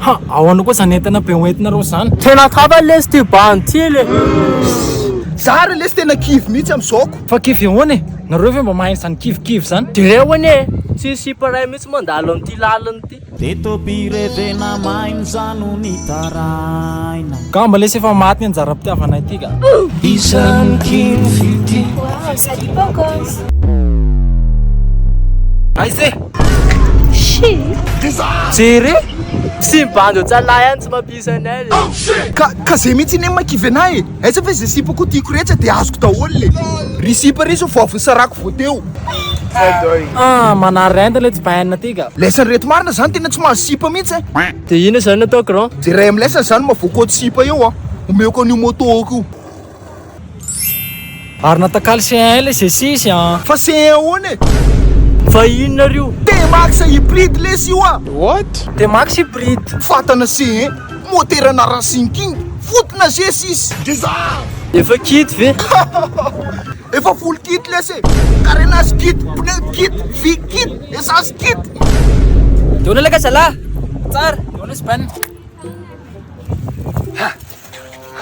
Ha! Ahoana kosa zany entana be hoentina reo zany? Tena tafa lesy ty bandy ty le! Za re lesy tena kivy mihitsy am zaoko. Fa kivy ahoana e? Nareo ve mba mahay an'izany kivikivy zany? De reo anie e! Tsy sipa iray mihitsy mandalo amin'ity lalana ity. Teto-pirenena mainza no nitaraina. Gamba lesy efa maty ny anjaram-pitiavana ity ka. Isan'ny kivy ty. Voahaja ry Bogos. Aiza e? Jere! Sy ny bandy otsalahy any tsy mampiisa ny aile oh, Ka, ka zay mihitsy iny makivy anay e Aiza ve zay sipa koa tiako rehetra dia azoko daholo le Ry sipa ry zao vavon'ny sarako vao teo Ah, manarenda le tsy bainina ty ka Lesson reto marina zany tena tsy mahazo sipa mihitsy eh. Dia ina zany atao grand? Jeray amin'ny lesson zany mavoakoa sipa eo ah Omeko an'io moto io Ary natakalo CE1 ilay G6 a! Fa CE1 ahoana e? Fa inona ary io? T-Max hybride lesy io a! What? T-Max hybride. Fatana CE1, motera na racing king, foot na G6. Deserve! Efa kit ve? Efa full kit lesy e! Carenage kit, pneu kit, vy kit, essence kit. Deo anao laka zalah! Tsara! Deo anao sbn.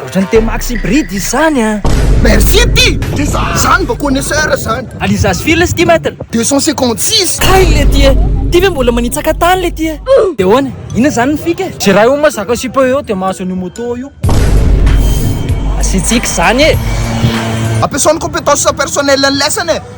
Ohatran'ny T-Max hybride izy zany an! Merci ty! Ty za zany vao connaisseur zany! Alizas firy le stimètre? 256! Kay le ty e! Ty ve mbola manitsaka tany le ty e! De ahoana? Inona zany ny fika e? Jeray hono ma zaka sipa eo de mahazo an'io moto io! Asiantsika zany e! Ampiasao ny compétence personnelle-ny lesany e!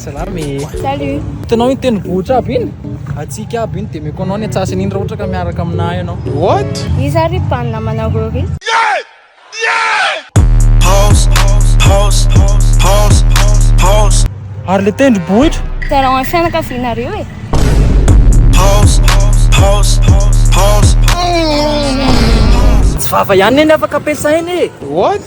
Salama e! Salut! Hitanao iny tendrombohitra aby iny? Hatsiaka aby iny, dia omeko anao ny antsasany iny raha ohatra ka miaraka aminà ianao. What? Iza ry mpaminamanareo ry? Ary le tendrombohitra? Hitanao ny fianakavianareo e! Tsy vava ihany anie ny afaka ampiasaina e! What?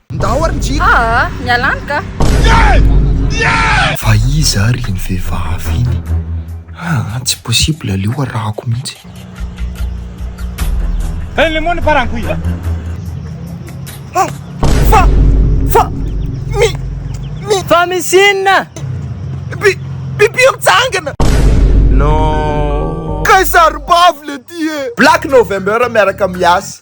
Ndao ary ny jiro. Aa miala any ka. Fa iza ary iny vehivavy iny? Aa tsy possible aleo arahako mihitsy. Hey le moni parang kui. Fa fa fa mi mi fa misy inona? Bi bibio mitsangana. Non. Kay sarobavy le ty e. Black November miaraka miasa.